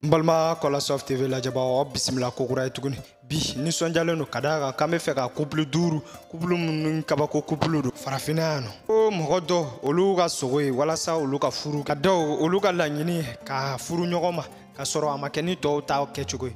n balima kɔlasɔf tv lajɛbagaw aw bisimila kokura ye tuguni bi nisɔnjalen don ka da a kan k'an be fɛ ka kupulu duuru kupulu minnu kabako kupulu don farafinna yan nɔ ko mɔgɔ dɔ olu ka sogo ye walasa olu ka furu ka dɔw olu ka laɲini ka furu ɲɔgɔn ma k'a sɔrɔ a ma kɛ ni tɔw ta kɛcogo ye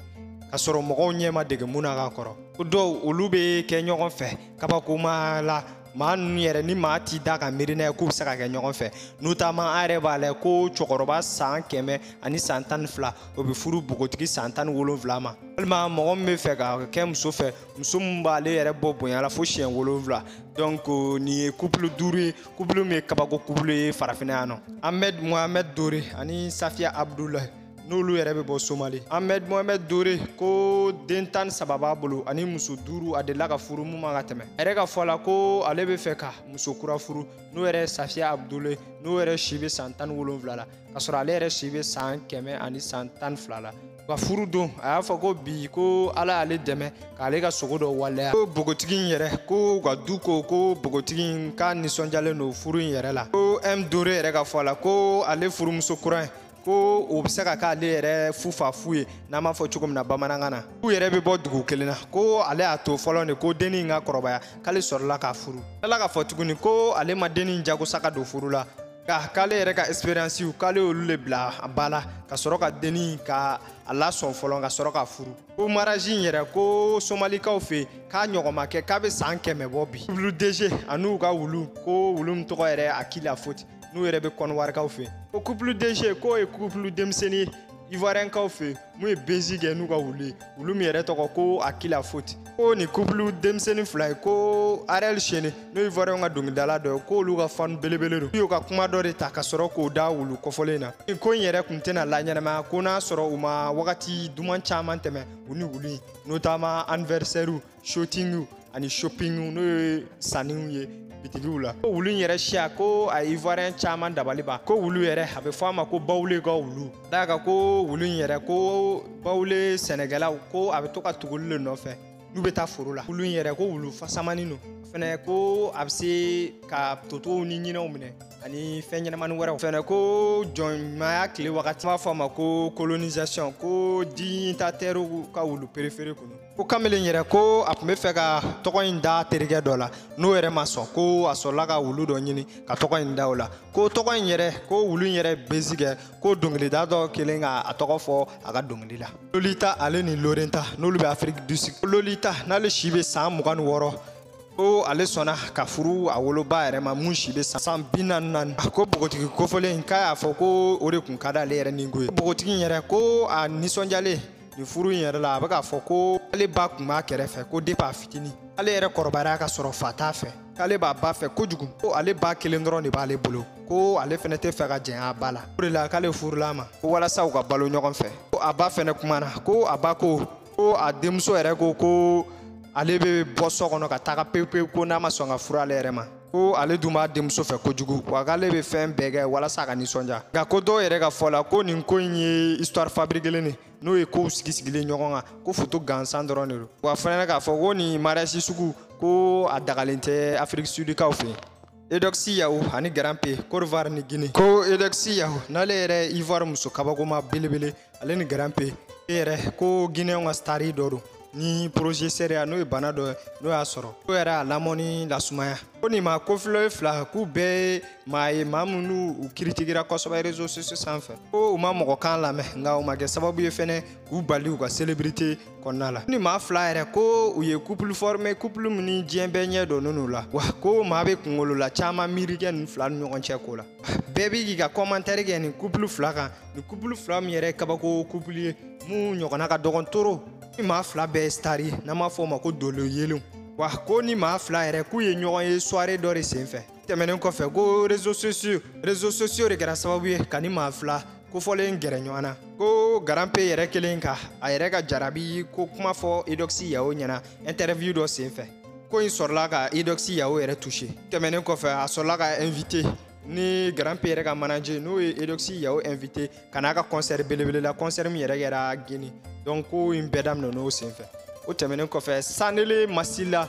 k'a sɔrɔ mɔgɔw ɲɛ ma dege mun na ka kɔrɔ ko dɔw olu be kɛ ɲɔgɔn fɛ kabakoma la maa ninnu yɛrɛ ni maa t'i da ka miiri n'a ye k'u bɛ se ka kɛ ɲɔgɔn fɛ notamment an yɛrɛ b'a lajɛ ko cɛkɔrɔba san kɛmɛ ani san tan ni fila o bɛ furu bogotigi san tan ni wolonfila ma walima mɔgɔ min bɛ fɛ ka kɛ muso fɛ muso min b'ale yɛrɛ bɔ bonya la fo siɲɛ wolonfila donc nin ye couple duuru ye couple min ye kabako couple ye farafinna yan nɔ ahmed mohamed dore ani safiya abdulayi n'olu yɛrɛ bɛ bɔ somali ahmed mohamed dore ko den tan saba b'a bolo ani muso duuru a delila ka furu mun ma ka tɛmɛ a yɛrɛ ka fɔ la ko ale bɛ fɛ ka muso kura furu n'o yɛrɛ safiya abdule n'o yɛrɛ si bɛ san tan ni wolonfila la k'a sɔrɔ ale yɛrɛ si bɛ san kɛmɛ ani san tan ni fila la ka furu don a y'a fɔ ko bi ko ala y'ale dɛmɛ k'ale ka sogo dɔ waleya ko bogotigi in yɛrɛ ko ka du ko ko bogotigi in k'a nisɔndiyalen don furu in yɛrɛ la ko m dore yɛrɛ ka fɔ la ko ale furumuso kura in ko o bɛ se ka k'ale yɛrɛ fufafu ye n'an b'a fɔ cogo min na bamanankan na u yɛrɛ bɛ bɔ dugu kelen na ko ale y'a to fɔlɔ de ko denni in ka kɔrɔbaya k'ale sɔrɔla k'a furu ale k'a fɔ tuguni ko ale ma denni in jagoya ka don furu la nka k'ale yɛrɛ ka expériencew k'ale y'olu le bila baara la ka sɔrɔ ka denni in ka a lasɔn fɔlɔ ka sɔrɔ k'a furu ko mariage in yɛrɛ ko somalikaw fɛ k'a ɲɔgɔn ma kɛ k'a bɛ san kɛmɛ bɔ bi couple dg an'u ka wulu ko wulu min tɔgɔ yɛrɛ akila foti n'u yɛrɛ bɛ kɔnɔwarikaw fɛ ko couple dg k'o ye couple denmisɛnnin ye ivoiriyɛnkaw fɛ mun ye buzz kɛ n'u ka wulu ye wulu min yɛrɛ tɔgɔ ko akila foti ko nin couple denmisɛnnin fila ye ko ariel sheney n'o ye ivoiriyɛnw ka dɔnkilidala dɔ ye k'olu ka fanu belebele don y'o ka kuma dɔ de ta ka sɔrɔ k'o da wulu kɔfɔlen na nin ko in yɛrɛ tun tɛna laɲɛnamaya ko n'a sɔrɔ u ma wagati duman caman tɛmɛ u ni wulu in notamment anniversaire shootingiw ani shoppingiw n'o ye sanniw ye bitigiw la ko wulu in yɛrɛ siya ko a ivoirien caman dabali ban ko wulu yɛrɛ a bɛ fɔ a ma ko bawule ka wulu d'a kan ko wulu in yɛrɛ ko bawule sɛnɛkɛlaw ko a bɛ to ka tugu olu le nɔfɛ n'u bɛ taa foro la wulu in yɛrɛ ko wulu fasamani don fɛnɛ ko a bɛ se ka totow ni ɲinɛw minɛ ani fɛn ɲɛnamani wɛrɛw fɛnɛ ko jɔnmaya tile wagati b'a fɔ a ma ko kolonisation ko dignitairew ka wulu préféré tun don ko kamalen yɛrɛ ko a tun bɛ fɛ ka tɔgɔ in da terikɛ dɔ la n'o yɛrɛ ma sɔn ko a sɔrɔla ka wulu dɔ ɲini ka tɔgɔ in da o la ko tɔgɔ in yɛrɛ ko wulu in yɛrɛ bezi kɛ ko dɔnkilida dɔ kelen ka a tɔgɔ fɔ a ka dɔnkili la lolita ale ni lorenta n'olu bɛ afiriki du sud lolita n'ale si bɛ san mugan ni wɔɔrɔ ko ale sɔnna ka furu a woloba yɛrɛ ma min si bɛ san bi naani ni naani ko npogotigi kofɔlen k'a y'a fɔ ko o de tun ka d'ale yɛrɛ ni ko ye npogotigi in yɛrɛ ko a nisɔndiyalen nin furu in yɛrɛ la a bɛ k'a fɔ ko ale ba tun b'a kɛrɛfɛ ko depuis a fitini ale yɛrɛ kɔrɔbayara ka sɔrɔ fa t'a fɛ k'ale b'a ba fɛ kojugu ko ale ba kelen dɔrɔn de b'ale bolo ko ale fɛnɛ tɛ fɛ ka jɛnya a ba la o de la k'ale furula a ma ko walasa u ka balo ɲɔgɔn fɛ ko a ba fɛnɛ kumana ko a ba ko ko a denmuso yɛrɛ ko ko ale bɛ bɔ so kɔnɔ ka taga pewu pewu ko n'a ma sɔn ka furu ale yɛrɛ ma ko ale dun b'a denmuso fɛ kojugu wa k'ale bɛ fɛn bɛɛ kɛ walasa a ka nisɔndiya nka ko dɔw yɛrɛ ka fɔ la ko nin ko in ye histoire fabriquelen de n'o ye kow sigi sigilen ɲɔgɔn kan ko foto gansan dɔrɔn de don wa fana k'a fɔ ko nin mariage sugu ko a dagalen tɛ afiriki sudikaw fɛ yen eudoxie yao ani grand p côte d'ivoire ni guinée ko eudoxie yao n'ale yɛrɛ ivoire muso kabakoma belebele ale ni grand p yɛrɛ ko guinéenw ka stari dɔ don ni progéria n'o ye bana dɔ n'o y'a sɔrɔ o yɛrɛ a lamɔni lasumaya ko nin maa kofɔlen fila k'u bɛɛ ye maa ye maa minnu u kiritikera kosɛbɛ réseaux sociaux sanfɛ ko u ma mɔgɔ kan lamɛn nka u ma kɛ sababu ye fɛnɛ k'u bali u ka selebrite kɔnɔna la ni maa fila yɛrɛ ko u ye kupulu fɔrime kupulu min ni diɲɛ bɛɛ ɲɛ dɔnnen n'u la wa ko maa bɛ kungolo la caman miiri kɛ nin fila ni ɲɔgɔn cɛ ko la bɛɛ bɛ k'i ka kɔmantɛri kɛ nin kupulu fila kan nin kupulu fila min yɛrɛ ye kabako kupulu ye min ɲɔgɔnna ka dɔgɔn trop ni maa fila bɛɛ ye sitari ye n'an b'a fɔ o ma ko dolo yelenw wa ko ni maa fila yɛrɛ k'u ye ɲɔgɔn ye soirée dɔ de senfɛ tɛmɛnen kɔfɛ ko réseaux réseaux sociaux de kɛra sababu ye ka ni maa fila kofɔlen gɛrɛ ɲɔgɔn na ko grand p yɛrɛ kelen ka a yɛrɛ ka jarabi ko kuma fɔ eudoxie yao ɲɛna interview dɔ senfɛ ko in sɔrɔla ka eudoxie yao yɛrɛ touché tɛmɛnen kɔfɛ a sɔrɔla ka invité ni grand p yɛrɛ ka manager n'o ye eudoxie yao invité ka n'a ka concert belebele la concert min yɛrɛ kɛra guinée donc ko in bɛɛ daminɛn'o senfɛ o tɛmɛnen kɔfɛ sanele masila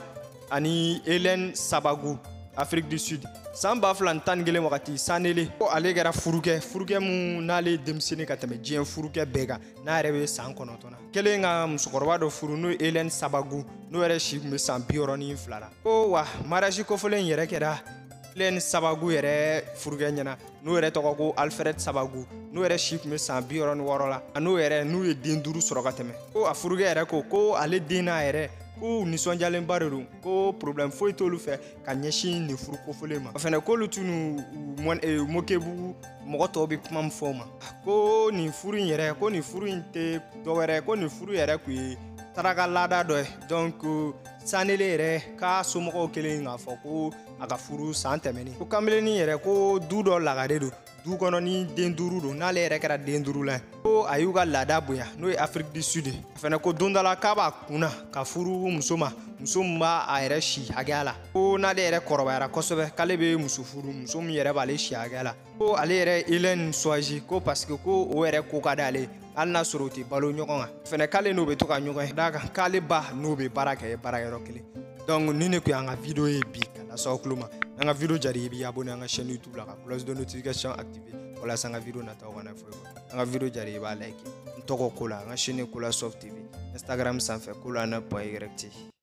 ani helen sabagu afrique du sud san ba fila ni tan ni kelen wagati sanele ko ale kɛra furukɛ furukɛ min n'ale denmisɛnnin ka tɛmɛ diɲɛ furukɛ bɛɛ kan n'a yɛrɛ bɛ san kɔnɔntɔn na kelen ka musokɔrɔba dɔ furu n'o ye helen sabagu n'o yɛrɛ si tun bɛ san bi wɔɔrɔ ni fila la ko wa mariage kofɔlen in yɛrɛ kɛra helen sabagu yɛrɛ furukɛ ɲɛna n'o yɛrɛ tɔgɔ ko alfred sabagu n'o yɛrɛ si tun bɛ san bi wɔɔrɔ ni wɔɔrɔ la a n'o yɛrɛ n'u ye den duuru sɔrɔ ka tɛmɛ ko a furukɛ yɛrɛ ko ko ale den n'a yɛrɛ k'u nisɔndiyalenba de don ko problème foyi t'olu fɛ ka ɲɛsin nin furu kofɔlen ma o fɛnɛ k'olu tun n'u mokebugu mɔgɔ tɔw bɛ kuma min fɔ ma ko nin furu in yɛrɛ ko nin furu in tɛ dɔwɛrɛ ko nin furu yɛrɛ kun ye taraka laada dɔ ye donc sanele yɛrɛ k'a somɔgɔw kelen k'a fɔ ko a ka furu san tɛmɛnen ko kanbelennin yɛrɛ ko du dɔ lagare don du kɔnɔ ni den duuru don n'ale yɛrɛ kɛra den duuru la ko a y'u ka laada bonya n'o ye afrique du sud a fɛnɛ ko don dɔ la k'a b'a kunna ka furu muso ma muso min b'a a yɛrɛ si hakɛya la ko n'ale yɛrɛ kɔrɔbayara kosɛbɛ k'ale bɛ muso furu muso min yɛrɛ b'ale si hakɛya la ko ale yɛrɛ hélène choisi ko parce que ko o yɛrɛ ko ka d'ale ye hali n'a sɔrɔ u tɛ balo ɲɔgɔn kan fɛnɛ k'ale n'o bɛ to ka ɲɔgɔn ye d'a kan k'ale ba n'o bɛ baara kɛ baarayɔrɔ kelen donc nin ne kun y'an ka video ye bi ka lase aw tulo ma n'an ka video diyara i ye i b'i abonné an ka chaîne youtube la ka cloche de notification activé walasa an ka video nataw kana fɔ i kɔ an ka video diyara i ye i b'a like n tɔgɔ kola an ka chaîne kola soft tv instagram sanfɛ kola na point yɛrɛ